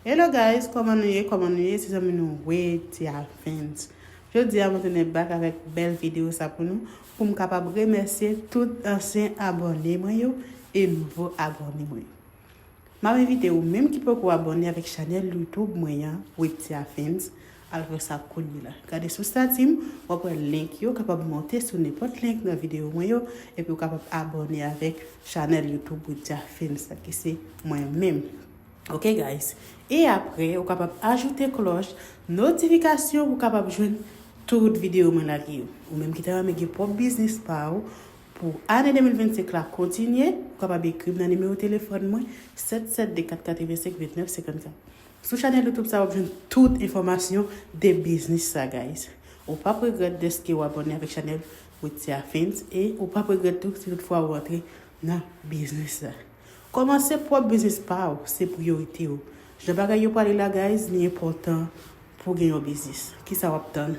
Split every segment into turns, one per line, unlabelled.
Hello guys koman nou ye koman nou ye se zanmi nou Wedya Vens jodi a mwen tounen back avèk bèl video sa pou nou pou m kapab remèsye tout ansyen abòne mwen yo e nouvo abòne mwen m ap envite ou menm ki poko abòne avèk chanèl YouTube mwen an Wedya Vens al fè sa kounye la gade sou stati m w ap wè link yo kapab monte sou nenpòt link nan video mwen yo epi ou kapab abòne avèk chanèl YouTube Wedya Vens la ki se mwen menm. Ok guys e apre ou kapab ajoute klòch notifikasyon pou kapab jwenn tout video mwen lage yo ou menm ki ta renmen gen pwòp biznis pa ou pou ane 2025 la kontinye ou kapab ekrim nan nimewo telefòn mwen 772452954 sou chanèl youtube sa wap jwenn tout enfòmasyon de biznis sa guys ou pap regrèt deske ou abòne avèk chanèl Witia Films e ou pap regrèt tou si tout fwa ou antre nan biznis sa. Kòmanse pwòp biznis paw se priyorite w jan bagay yo pale la guys li enpòtan pou gen yon biznis kisa wap tann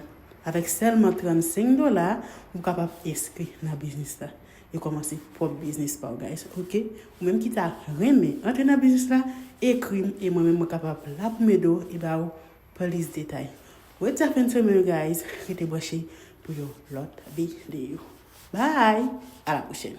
avèk sèlman 35 dola ou kapab enskri nan biznis la e kòmanse pwòp biznis paw guys ok ou menm ki ta renmen antre nan biznis la ekrim e mwen menm mwen kapab la poum ede w e baw plis detay wè ti afèn sou menw guys rete branche pou yon lòt videyo bye a la pwochèn.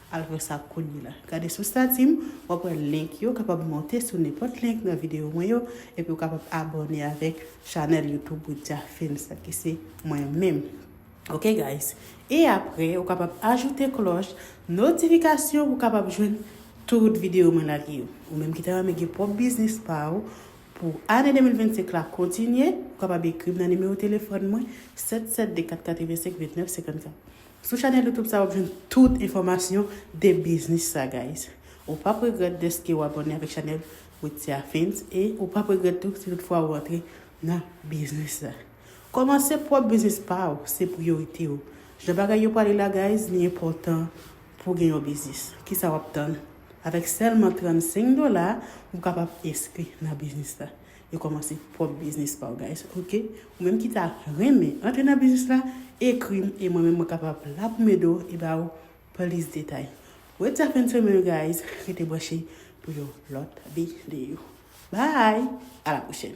Al wè sa kounye la. Gade sou stati m, w ap wè link yo, w kapab monte sou nenpòt link nan videyo mwen yo, epi w kapab abòne avèk chanèl YouTube Widya Films la ki se mwen menm. Ok guys. E apre, ou kapab ajoute klòch notifikasyon pou w kapab jwenn tout videyo mwen lage yo. Ou menm ki ta renmen gen pwòp biznis pa ou pou ane 2025 la kontinye, ou kapab ekri m nan nimewo telefòn mwen 772 485 2954. Sou chanel youtube sa wap jwenn tout enfòmasyon de biznis sa guys. Ou pap regrèt deske ou abòne avèk chanel Witia Films e ou pap regrèt tou si tout fwa ou antre nan biznis sa. Kòmanse pwòp biznis pa ou se priyorite ou. Jan bagay yo pwale la guys li enpòtan pou gen yon biznis. Kisa wap tann? Avèk sèlman 35 dola ou kapab enskri nan biznis sa. Yo komanse pwop biznis paw guys ok ou menm ki ta renmen antre nan biznis la ekrim e mwen menm mwen kapab la poum ede w e ba w plis detay wed sa fen semen guys rete branche pou yon lot video bye a la pwochen.